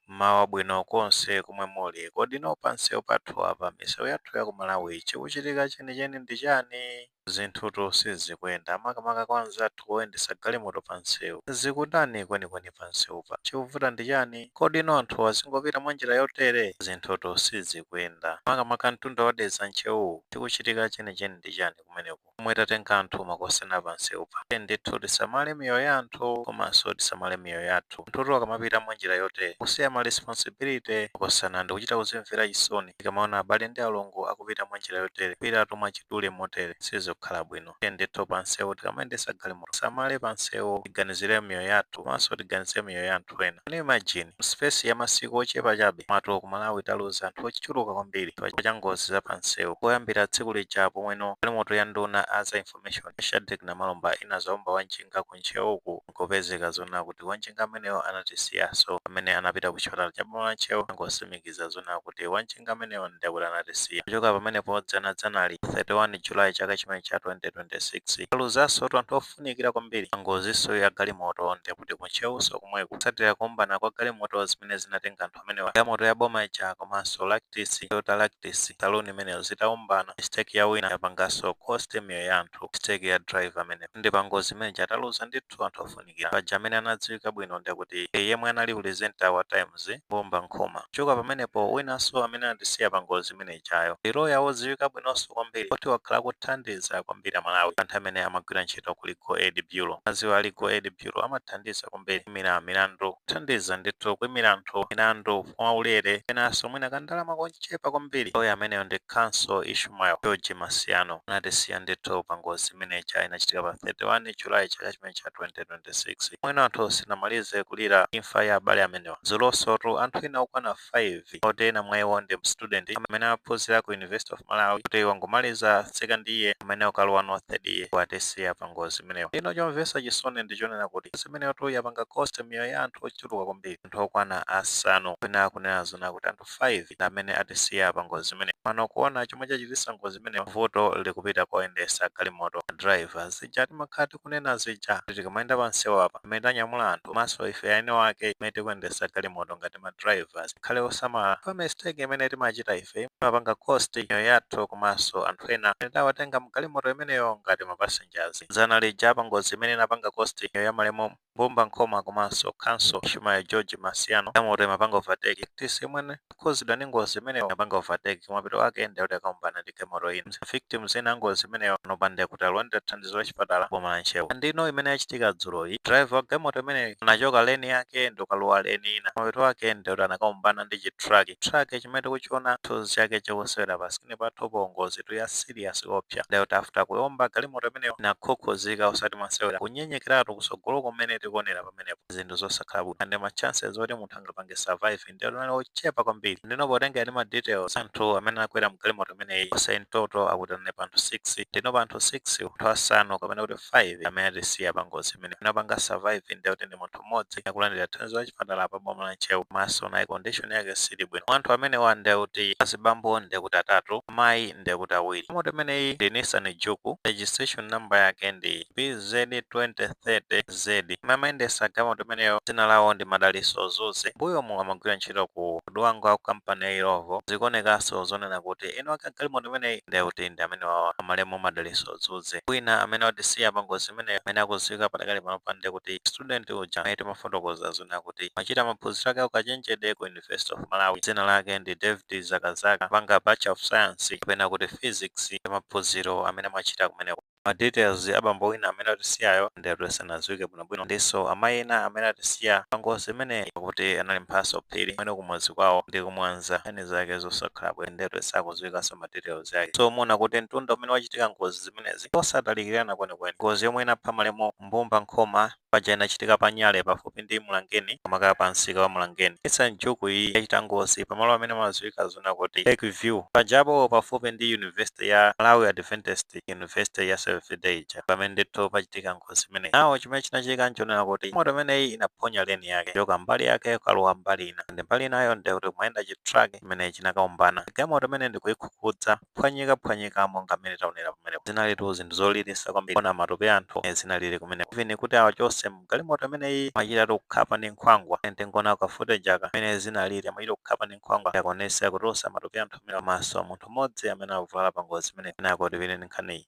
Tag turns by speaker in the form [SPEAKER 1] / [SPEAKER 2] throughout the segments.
[SPEAKER 1] Mmawa wabwino konse komwe muli. Kodi no panseu pathu apa, miseu yathu ya ku Malawi, chikuchitika cheni cheni ndi chani? Zinthutu sizikuenda, makamaka kwa anzathu oyendesa galimoto pa nseu. Zikutani kweni kweni pa nseupa? Chikuvuta ndi chani? Kodi no anthu azingopita mwa njira yotere? Zinthutu sizikuenda, makamaka mtunda wa Dedza Ntcheu-wu, chikuchitika cheni cheni ndi chani kumeneku? pomwe tatenga anthu makosana pa nsewupa. Tiyeni ndithu tisamale miyoyo ya anthu komanso tisamale miyoyo yathu. Anthutu akamapita mwa njira yotere, kusiya ma responsibility makosana ndikuchita kuzimvera chisoni tikamaona abale ndi alongo akupita mwa njira yotere, kupitatu mwachidule motere, sizikukhala bwino. Tiyeni ndithu pa nsewu tikamayendetsa galimoto, tisamale pa nsewu, tiganizire miyoyo yathu komanso tiganizire miyoyo ya anthu. anthu ena. Can you imagine? Mu space ya masiku ochepa chabe mwatu ku Malawi taluza anthu ochuluka kwambiri chifukwa cha ngozi za pa nseu. Koyambira tsiku lija pomweno galimoto ya nduna a za information a Shadreck Namalomba inadzaomba wa njinga ku Ntcheu uku nkupezeka zoona kuti wa njinga ameneyo anatisiyaso pamene anapita ku chipatala cha boma la Ntcheu angosimikiza zoona kuti wa njinga ameneyo ndiye kuti anatisiya. Kuchoka pamenepo dzana dzanali, pa 31 July chaka chimene cha 2026, taluzasotu anthu of. funikira kwambiri pa ngoziso ya galimoto ndiye kuti ku Ntcheuso komweku kutsatira kuombana kwa galimoto zimene zinatenga anthu amenewa galimoto ya boma ija komanso Lactis, Toyota Lactis, saloon imeneyo zitaombana mistake ya wina yapangaso cost miyoyo ya anthu mistake ya driver ameneyo ndi pa ngozi imene ija taluza ndithu anthu ofunikira paja amene anadziwika bwino ndiye kuti yemwe anali presenter wa Times, Mbumba Nkhoma. Kuchoka pamenepo winaso amene anatisiya pa ngozi imeneyi. ijayo ndi loya wodziwika bwinonso kwambiri poti wakhala akuthandiza kwambiri Amalawi pa nthawi imene amagwira ntchito ku Legal Aid Bureau. Adziwa a Legal Aid Bureau amathandiza kwambiri kuimira milandu, kuthandiza ndithu kuimira anthu milandu mwaulere penanso mwina kandalama kochepa kwambiri. Loya ameneyo ndi Counsel Ishmael George Masiyano. Anatisiya ndithu pa ngozi imene ija inachitika pa 31 July chaka chimene cha 2026. Momweno anthu sitinamalize kulira imfa ya abale amenewa, dzulosotu anthu ena okwana 5 moti ena mwa iwo ndi mstudent amene amaphunzira ku University of Malawi kuti wangomaliza second year pamene akulowa no third year watisiya pa ngozi imeneyo. Ndiyeno chomvesa chisoni ndi chonena kuti ngozi imeneyotu yapanga cost miyoyo ya anthu ochuluka kwambiri, anthu okwana asanu kapena kunena zoona kuti anthu 5 amene atisiya pa ngozi imeneyo. Pano kuona chomwe chachitisa ngozi imeneyo vuto likupita kwa oyendesa galimoto, ma driver. Zija timakhala tiku. kunena zija kuti tikamayenda pa msewu apa pamene tanyamula anthu komanso ife eni wake pamene tikuyendesa galimoto ngati ma drivers tikhale osamala chifukwa mistake imene timachita ife imapanga cost miyoyo yathu komanso anthu ena amene tawatenga mu galimoto imeneyo ngati ma passengers. Dzana lija pa ngozi imene inapanga cost miyoyo ya malemu Mbumba Nkhoma komanso Counsel Ishmael George Masiano, galimoto imapanga overtake, TC Mwene, Okhudzidwa ndi ngozi imeneyo anapanga overtake koma mapeto ake ndi akuti akaombana ndi galimoto ina. Ma victims ena a ngozi imeneyo panopa ndi akuti akulandira thandizo la chipatala m'boma la Ntcheu. Ndiyeno imene yachitika dzuloyi, driver wa galimoto imeneyi anachoka lane yake ndi kukalowa lane ina. Mapeto ake ndi akuti anakaombana ndi chi truck. Truck chimene tikuchiona chithunzi chake chikusewera pa screen pathupo, ngozitu ya serious koopsa ndi akuti after kuomba galimoto imeneyo inakhukhuzika osati masewera. Kunyenyekeratu kutsogoloku mmene tikuonera pamenepa zinthu zosakhala bwino and ma chances oti munthu angapange survive ndiye kuti ndi ochepa kwambiri ndiyeno potengera ndi ma details a anthu amene anakwera mgalimoto imeneyi onse in total akuti analipo anthu 6 ndiyeno pa anthu 6 anthu asanu kapena kuti 5 amene atisiya pa ngozi amene anapanga survive ndiye kuti ndi munthu mmodzi akulandira thandizo la chipatala pa boma la ntcheu komanso naye condition yake siili bwino anthu amenewa ndiye kuti azibambo ndiye kuti atatu amayi ndiye kuti awiri galimoto imeneyi ndi nissan juke registration number yake ndi bz 20 30 zedi amene amayendesa galimoto imeneyo dzina lawo ndi Madalitso Zuze m'mbuyomu amagwira ntchito ku Dwangwa ku kampani ya Illovo zikuonekanso zonena kuti eni wake a galimoto imeneyi nde kuti ndi amenewawa a malemu Madalitso Zuze wina amene watisiya pa ngozi imeneyo amene akudziwika padakali panopa nde kuti student uja amene timafotokoza zonena kuti amachita maphunziro ake a ukachenjede ku University of Malawi dzina lake ndi David Zakazaka amapanga Bachelor of Science kapena kuti Physics ndi maphunziro amene amachita kumeneko. Ma details a abambo ena amene atisiyawo nde kuti sanadziwike bwino bwino ndinso amayi ena amene atisiya pa ngozi imeneyi akuti anali Mphatso Phiri amene kumudzi kwawo ndi ku Mwanza nkhani zake zosakhala bwino nde kuti sakudziwikanso ma details ake so muona kuti mtunda umene wachitika ngozi zimenezi ndiosatalikirana kwenikweni ngozi yomwe inapha malemu Mbumba Nkhoma paja inachitika pa Nyale pafupi ndi Mlangeni makamaka pa msika wa Mlangeni. Nissan Juke iyi yachita ngozi pamalo amene amadziwika zonena kuti Lake View pajapo pafupi ndi University ya Malawi Adventist University ya Seventh Day ija pamene ndithu pachitika ngozi imeneyi. Nawo chimene chinachitika nchonena kuti galimoto imeneyi inaphonya leni yake kuchoka mbali yake kukalowa mbali ina ndi mbali inayo ndekuti kumayenda chitruck chimene chinakaombana. Galimoto imene ndikuikhukhuza kuphwanyikaphwanyika monga mmene taonera pamenepo. Zinalitu zinthu zoliritsa kwambiri kuona matupi a anthu mmene zinalili kumeneko. Even kuti awachotse m'galimoto imeneyi amachitatu kukhapa ndi nkhwangwa. Tiyeni tingoonako ka footage aka mmene zinalili. Amachita kukhapa ndi nkhwangwa kuti akwanitse kutulutsa matupi a anthu amenewa komanso munthu mmodzi amene anavulala pangozi imeneyi. Kenako tipitirire ndi nkhaniyi.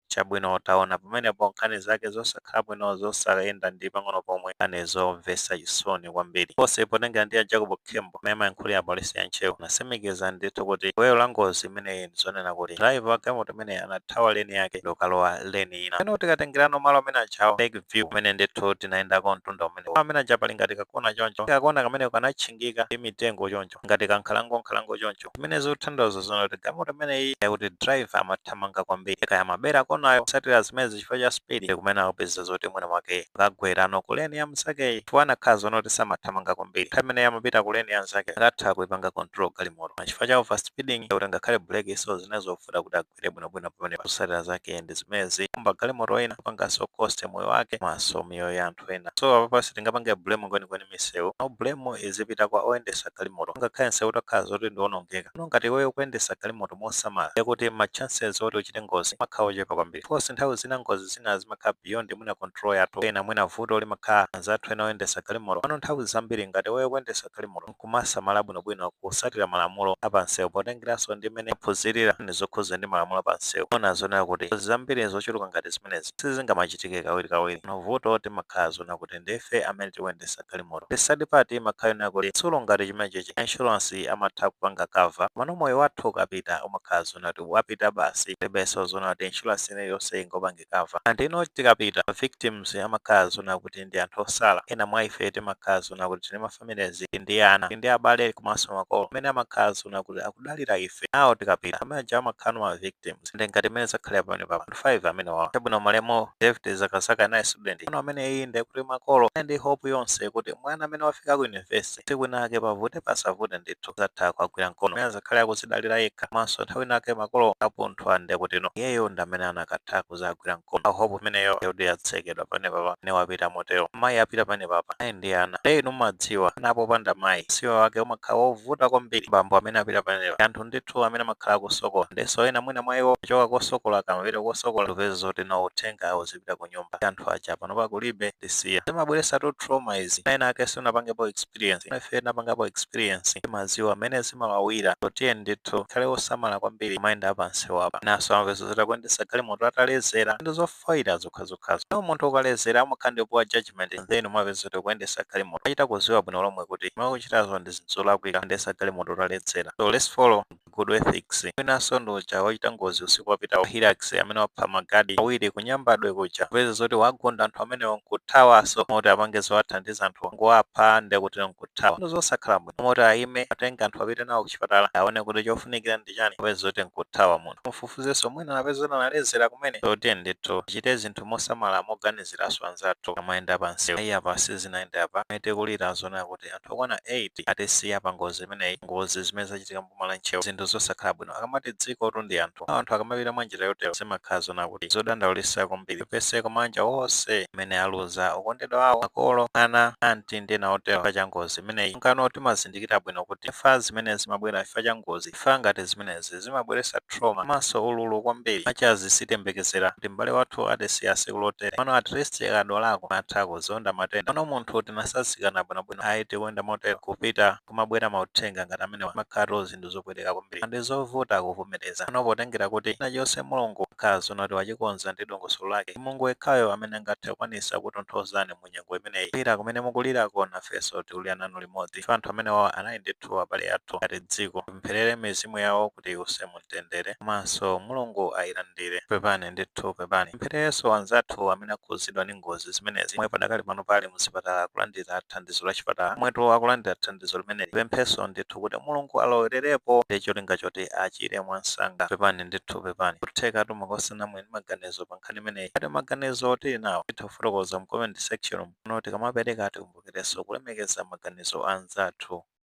[SPEAKER 1] chabwino taona pamenepo nkhani zake zosakhala bwino zosayenda ndi pang'ono pomwe nkhani zomvetsa chisoni kwambiri komanso potengera ndi a Jacob Khembo omwe amayankhulira polisi ya Ntcheu anasimikiza ndithu kuti gwero la ngozi imeneyi ndizonena kuti driver wa galimoto imeneyi anathawa leni yake ndikukalowa leni ina. Pano tikatengerano malo amene aja a Lake View kumene ndithu tinayendako mtunda umene malo amene aja pali ngati kakona choncho kakona kameneko kanatchingika ndi mitengo choncho ngati kankhalango nkhalango choncho Zimene zikuthandauza zona kuti galimoto imeneyi yakuti driver amathamanga kwambiri kaya amabera nayo kusatira zimenezi chifukwa cha speed kumene akupeza zoti mwina mwake akagwerano ku lane ya mnzakeyi chifukwa anakakhala zona kuti samathamanga kwambiri nthawi imene amapita ku lane ya mnzake akanatha kuipanga control galimoto chifukwa cha overspeeding kuti ngakhale brake so zinali zovuta kuti agwire bwinobwino pamene zotsatira zake ndi zimezi kuomba galimoto ina kupangaso cost moyo wake maso miyoyo ya anthu ena so apapa sitingapange blame kwenikweni misewu no blame izipita kwa oyendesa galimoto ngakhale nsewu utakhala zoti ndionongeka no ngati iweyo ukuyendesa galimoto mosamala yakuti ma chances oti uchite ngozi amakhala ochepa kwambiri of course nthawi zina ngozi zina zimakhala beyond mwina control yathu ena mwina vuto limakhala anzathu ena oyendesa galimoto pano nthawi zambiri ngati iweyo ukuyendesa galimoto nkumasamala bwinobwino kusatira malamulo a pa msewu potengeranso ndi mmene aphunzirira ndi zokhudzana ndi malamulo a pa msewu, amaona zoona kuti ngozi zambiri zochuluka ngati zimenezi sizingamachitike kawirikawiri. Koma vuto timakhala zoona kuti ndife amene tikuyendetsa galimoto. The sad part imakhala yonena kuti chitsulo ngati chimenechichi insurance amatha kupanga cover komano moyo wathu ukapita umakhala zoona kuti wapita basi palibenso zoona kuti insurance ina iliyonse ingapange cover. And then tikapita ma victims amakhala zoona kuti ndi anthu osala, ena mwa ife timakhala zoona kuti tili ma. families ndi ana ndi abale komanso makolo amene amakhala zona kuti akudalira ife nawo tikapita amene aja amakhala ma victims ndi ngati imene zakhalira pamenepa anthu 5 amenewawa chabwino malemu David zakazaka naye student ano ameneyi ndi kuti makolo anali ndi hope yonse kuti mwana ameneyu wafika ku university tsiku linake pavute pasavute ndithu azatha kuwagwira mkono amene azakhale akuzidalira yekha komanso nthawi inake makolo akapunthwa ndi kuti no iyeyo ndi amene anakatha kuzawagwira mkono koma hope imeneyo ndiye yatsekedwa pamenepapa nde wapita motero mayi apita pamenepapa ali ndi ana nde inu mumadziwa ana popanda mayi usiwa wake umakhala wovuta kwambiri bambo amene apita pamenepa anthu ndithu amene amakhala akusokolera ndenso ena mwina mwa iwo kuchoka kosokola akamapita kosokola kupeza zoti no uthenga uzipita ku nyumba anthu aja panopa kulibe tisiya zimabweresatu trauma izi enaake simunapangepo experience Koma ife tinapangapo experience timaziwa mmene zimawawira so tiyeni ndithu tikhale wosamala kwambiri kumayenda apansewapa enaso amapeza zoti akuendesa galimoto atalezera ndi zofoira zokhazokhazo no munthu akalezera amakhala ndi poor judgement and then amapeza zoti akuendesa galimoto akuchita kuziwa bwino lomwe kuti zomwe ukuchitazo ndi zinthu zolakwika kuyendesa galimoto utaledzera so let's follow Good ethics. Winaso ndi uja wachita ngozi usiku wapitawu wa Hilux amene wapha ma guard awiri ku Nyambadwe kuja. Kupeza zoti wagunda anthu amenewo nkuthawaso mmalo moti apange zowathandiza anthuwo kungowapha nde kuti nkuthawa. Ndi zosakhala bwino. Mmalo moti ayime atenge anthu apite nawo ku chipatala awone kuti chofunikira ndi chani kupeza zoti nkuthawa munthu. Mufufuzeso mwina mupeza zoti analedzera kumene. So tiyeni ndithu tichite zinthu mosamala moganiziraso anzathu akamayenda pansewu. Ayi apa sizinayende apa. Pamene tikulira zoona kuti. kuti anthu okwana 8 atisiya pa ngozi imeneyi, ngozi zimene zachitika m'boma la Ntcheu zinthu zosakhala bwino. Akamati dzikotu ndi anthu, anthu akamapita mwa njira yotero zimakhala zoona kuti zodandaulitsa kwambiri. Tipepese kwa maanja onse amene aluza okondedwa awo, makolo, ana, anti ndi ena otero chifukwa cha ngozi imeneyi. Nangano timazindikira bwino kuti imfa zimene zimabwera chifukwa cha ngozi Imfa ngati zimenezi zimabweretsa trauma komanso ululu kwambiri. Maka because sitiyembekezera kuti m'bale wathu atisiya tsiku lotere. Komano at least akadwalako timatha kuzonda matenda. Komano munthu tinatsanzikana bwinobwino ayi tikuyenda motero kupita kumabwera mauthenga ngati amenewa zimakhalatu zinthu zopweteka kwambiri and zovuta kuvomereza. Komano potengera kuti china chilichonse Mulungu amakhala zoona kuti wachikonza ndi dongosolo lake, ndi Mulungu yekhayo amene angathe kukwanitsa kukutonthozani mu. mu nyengo imeneyi. Kulira kumene mukulirako nafenso tikulira nanu limodzi chifukwa anthu amenewawa anali ndithu abale athu ngati dziko. Tipempherere mizimu yawo kuti iwuse mu mtendere komanso Mulungu ayilandire. Pepani ndithu pepani. Tipemphererenso anzathu amene akhudzidwa ndi ngozi zimenezi omwe padakali pano ali mu zipatala akulandira thandizo la chipatala. Omwetu akulandira thandizo limeneli tipemphenso ndithu kuti Mulungu alowererepo ndi cholinga choti achire mwansanga. Pepani ndithu pepani. N'kuthekatu mwa okonda inu muli ndi maganizo pa. nkhani imeneyi. Ngati maganizo tili nawo titha kufotokoza mu comment section muno. Tikamapereka tikumbukirenso kulemekeza maganizo a anzathu.